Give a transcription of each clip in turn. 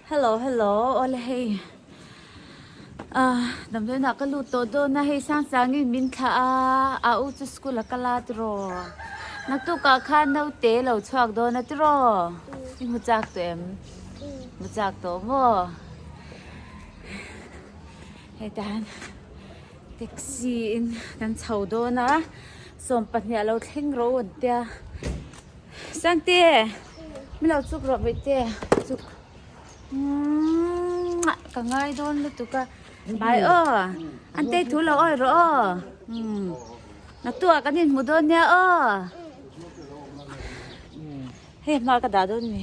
Hello hello ole hei a damdawiin ah ka lut tawh dawn a hei sang changin min thla a a u chu school ah ka la tiraw naktuk ah khan naute lo chhuak dawn atiraw i hmu chak tawh em i hmu chak tawh maw hetian. Taxi in kan chho dawn a, sawm pahnih a lo thleng ro a ni a. Sangte, min lo chuk rawh Mite, chuk muah, ka ngai dawn lutuk a. Bai aw, Antei thu lo awih rawh aw. Na tu ah kan in hmu dawn nia aw. Hei hma ka dah dawn a ni.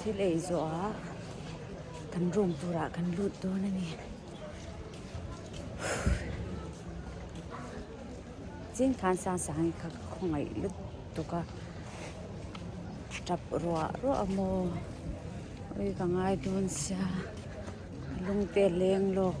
Thil ei zawh a kan room turah kan lut dawn a ni. Chin khan sang sangin ka khawngaih lutuk a. Tap ruah ruah a maw. Ui ka ngai dawn sia. Lungte a leng lawk.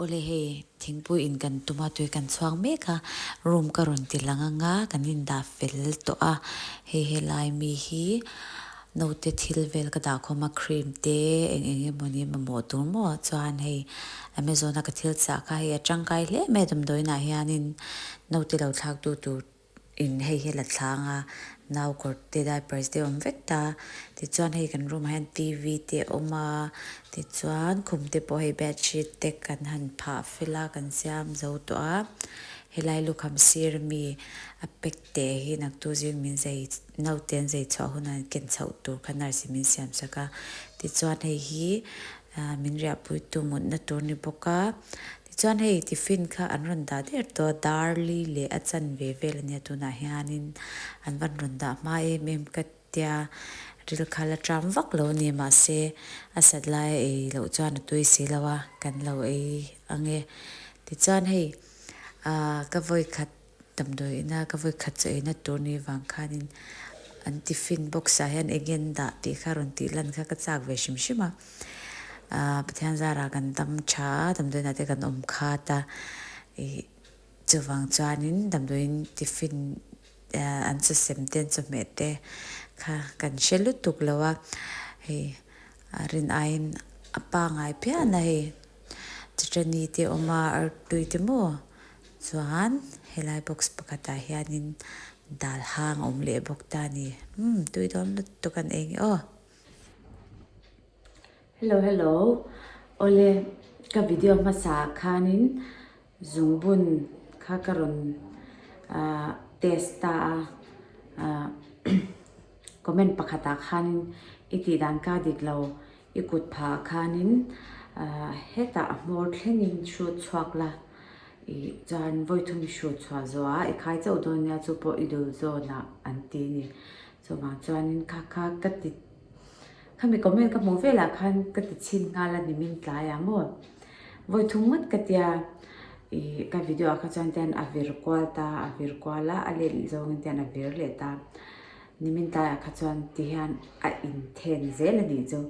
Awle hei thingpui in kan tum a tui kan chhuak mek a room ka rawn ti lang anga kan in dah fel tawh a hei helai mi hi note thil vel ka dah khawm a cream te eng eng emawni mamawh tur maw chuan hei amazon a ka thil chah kha hei a tangkai hle mai a damdawiin ah hianin note lo thlak tu tur in hei hi a la thlang a, nau kawr te diapers te a awm vek ta, tichuan hei kan room ah hian TV te a awm a, tichuan khum te pawh hei bedsheet te kan han phah fel a, kan siam zo tawh a, helai lukham sir ami a pack teh hi naktu zing min zei naute an zei chhuah hunah an ken chhoh tur kha nurse in min siam sak a, tichuan hei hi min riahpuitu mutna tur a ni bawk a. Chuan hei tiffin kha an rawn dah der tawh, Darli leh a chanve vel ania tunah hianin an van rawn dah hma em em ka tia, rilkhal a ṭam vak lo nia mahse a sat laia ei loh chuan a tui si lo a, kan lo ei ang e. Tichuan hei ka vawikhat Damdawi ina ka vawi khat chu eina tur ni vang khanin an tiffin box ah hian eng nge an dah tih kha rawn tih lan kha ka chak ve hrim hrim a. Aaa Pathian zarah kan dam tha a, damdawi nate kan awm khat a. Chuvang chuanin damdawiin tiffin an sa sem te, an chawhmeh te kha kan hre lutuk lo a. Hei rin aiin a pangai phian a hei. Chutani te awm a, artui te maw chuan helai box pakhatah hianin dal hang a awm leh bawk ta ni. Umm tui dawn lut tu kan ei nge aw. Hello hello, awle ka video hmasa khanin. Zungbun kha ka rawn test ta a, comment pakhatah khanin i tih dan ka dik lo, i kut phahah khanin hetah a hmawr thlengin hrut chhuak la, i chuan vawi thum i hrut chhuah zawh a, i khai chauh dawn nia chu pawh i dul zawn a, an ti a ni. Chuvang chuanin kha kha ka ti khami comment ka hmuh velah khan ka ti chhin nghal a nimin tlai ang maw vawi thung ngawt ka tia i ka video ah kha chuan ten a vir kual ta a vir kual a a let zawng in ten a vir leh ta nimin tlai ah kha chuan ti hian a in then zel a nih chu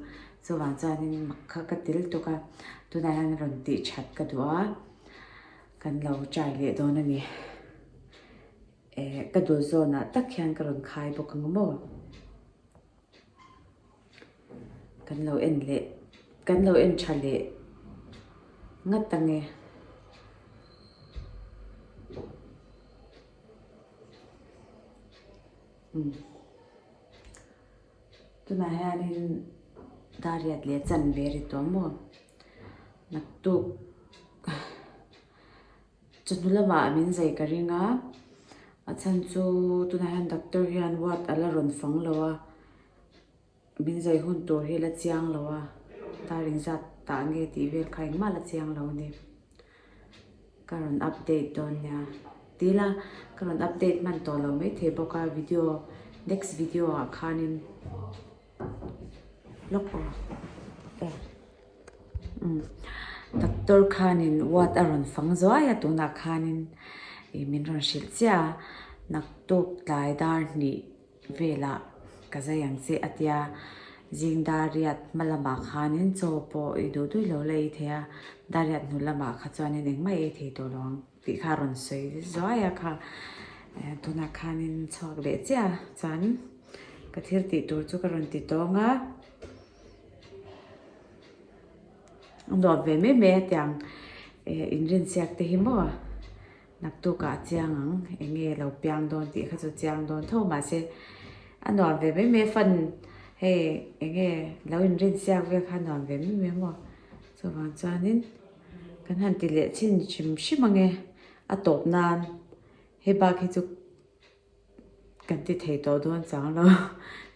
chuvang chuanin mak kha ka tel tuk a tunah hian rawn ti that ka duh a kan lo try leh dawn a ni. Eh, ka dul zawnah tak hian ka rawn khai bawk ang maw? Kan lo en leh, kan lo en tha leh ngat ang e. Umm. Tunah hianin Dariat leh Chanve ri tawh maw? Naktuk. Chawhnu lamah min zai ka ring a, a chhan chu tunah hian doctor hian ward a la rawn fang lo a, min zai hun tur hi la chiang lo a, ta ring zat ta nge tih vel kha engmah la chiang lo a ni. Ka rawn update dawn nia, ti ila ka rawn update hman tawh lo mai thei bawk a, video next video ah khanin. Doctor khanin ward a rawn fang zuai a tunah khanin ih min rawn hrilh chiah a, naktuk tlai dar hnih velah ka zai ang che a ti a, zingdariat hma lamah khanin chaw pawh ih duh duih lo la ithei a, dariat hnuh lamah kha chuan engmah ei thei tawh lo ang. Tih kha rawn sawi zuai a kha. Tunah khanin chhuak leh chiah a chuan ka thil tih tur chu ka rawn ti tawng a. A nuam ve mai mai a tiang inrinsiak te hi maw a naktuk ah a chiang ang eng nge lo piang dawn tih kha chu a chiang dawn tho mahse a nuam ve mai mai a fan hei eng nge lo inrinsiak vel kha a nuam ve mai mai a maw chuvang chuanin. Kan han ti leh chin hrim hrim ang e, a tawp nan hei bak hi chu kan ti thei tawh dawn chang lo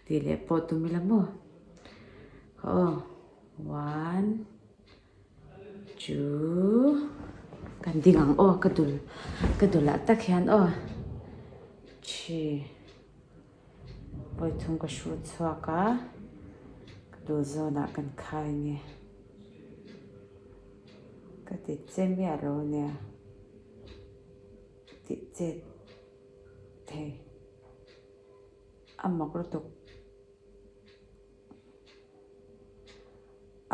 tih leh pawh tum ila maw? Aw one two kan ding ang aw ka dul ka dul ah tak hian aw three. Pawi thum ka hruh chhuak a, ka duh zawnah kan khai nge. Ka ti che miah a lo nia, ti che thei a mak lutuk.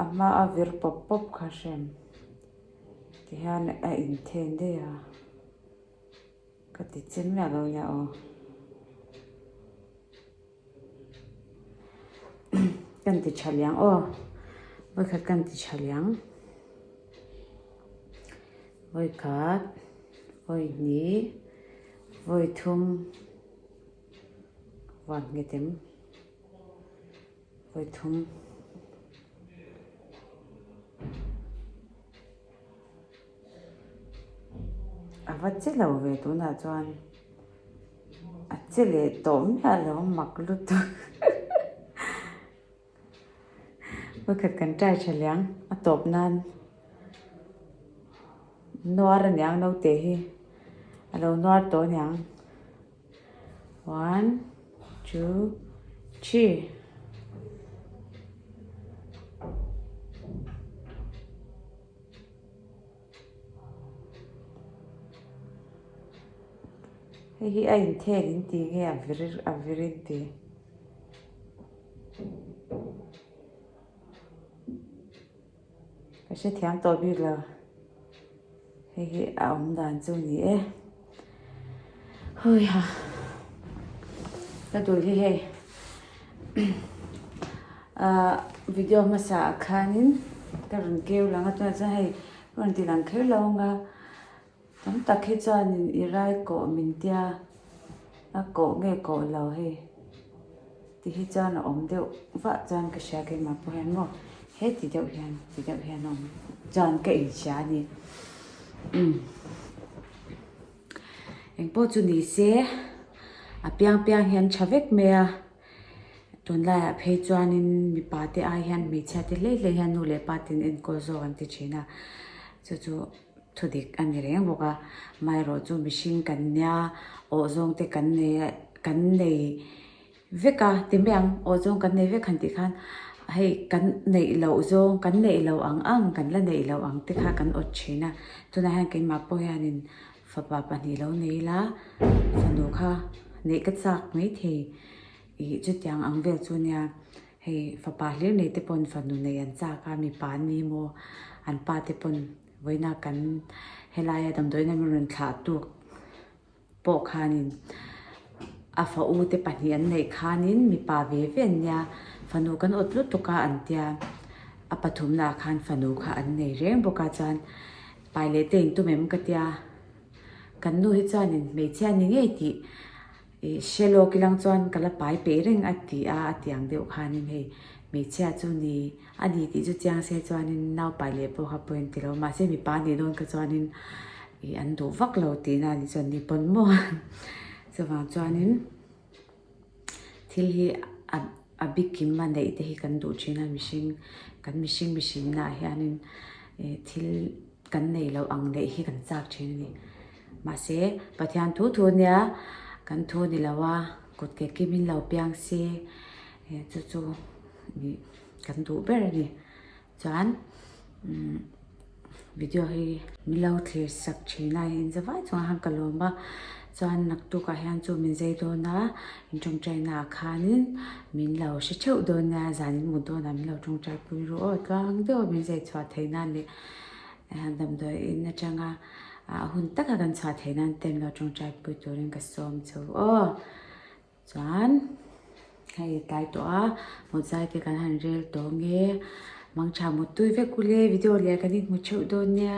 A hma a vir pawp pawp kha hrem, tihian a inthen daih a. Ka ti chin miah lo nia aw. Kan ti tha liang aw. Vawi khat kan ti tha liang. Vawi khat, vawi hni, vawi thum, vat nge tem, vawi thum. A va che lo ve tunah chuan a che leh tawh miah a lo mak lutuk. Hmakhat kan try tha liang a tawp nan. Nuar a niang naute hi a lo nuar tawh a niang. One, two, three. Hei hi a inthek in ti nge a vir a vir in ti. Ka hrethiam tawh bik lo hei hi a awm dan chu ni e. Hawia ka tui hi hei ahh video hmasa ah khanin ka rawn keu lang a tunah chuan hei ka rawn ti lang kher lo ang a tam tak hi chuanin i rai kawh min tia a koh nge koh lo hei. Ti hi chuan a awm deuh vah chuan ka hria ke mah pawh hian maw he ti deuh hian ti deuh hian a awm chuan ka inhria a ni umm eng pawh chu ni se a piang piang hian tha vek mai a tunlai ah phei chuan in mipa te ai hian hmeichhia te hlei hlei hian nu leh pa ten enkawl zawk an ti thin a chu chu thu dik a ni reng bawk a amaherawhchu mihring kan nia awh zawng te kan nei kan nei. vek a ti mai ang aw zawng kan nei vek han tih khan hei kan neih loh zawng kan neih loh ang ang kan la neih loh ang te kha kan awt thin a tunah hian keimah pawh hian in fapa pahnih lo nei ila fanu kha neih ka chak maithei ih chutiang ang vel chu nia hei fapa hlir nei te pawn fanu neih an chak a mipa an ni maw an pa te pawn vawiina kan helaia damdawiin an rawn thlah tuk. pawh khanin a fa u te pahnih an neih khanin mipa ve ve an nia fanu kan awt lutuk a an tia a pathum naah khan fanu kha an nei reng bawk a chuan pai leh te in tum em ka tia kan nu hi chuan in hmeichhia ni ngei tih ih hre lawk i lang chuan ka la pai peih reng a ti a a tiang deuh khanin hei hmeichhia chu ni. A ni tih chu chiang se chuanin naupai leh pawh kha point ti lo. Mahse mipa nih dawn kha chuanin ih an duh vak lo tih na ni chuan ni pawn maw chuvang chuanin thil hi a bikim a neih te hi kan duh thin a mihring kan mihring mihring nahah hianin ih thil kan nei loh ang neih hi kan chak thin a ni. Mahse Pathian thu thu nia kan thu ni lo a kut ke kim in lo piang si chu chu ih. kan duh ber a ni chuan umm video hi milo thlir sak thin a in za vai chungah khan ka lawm a chuan naktuk ah hian chu min zai dawn a in tawngtai naah khanin min lo hre theuh dawn nia zan in mut dawn ah min lo tawngtai pui rawh aw tlang deuh min zai chhuah theih nan leh eh damdawi in atanga ah hun taka kan chhuah theih nan te min lo tawngtai pui turin ka sawm chho aw. Chuan hei tlai tawh a mawzai te kan han rel tawh nge mangtha mutui vek ule video leh kan inhmu theuh dawn nia.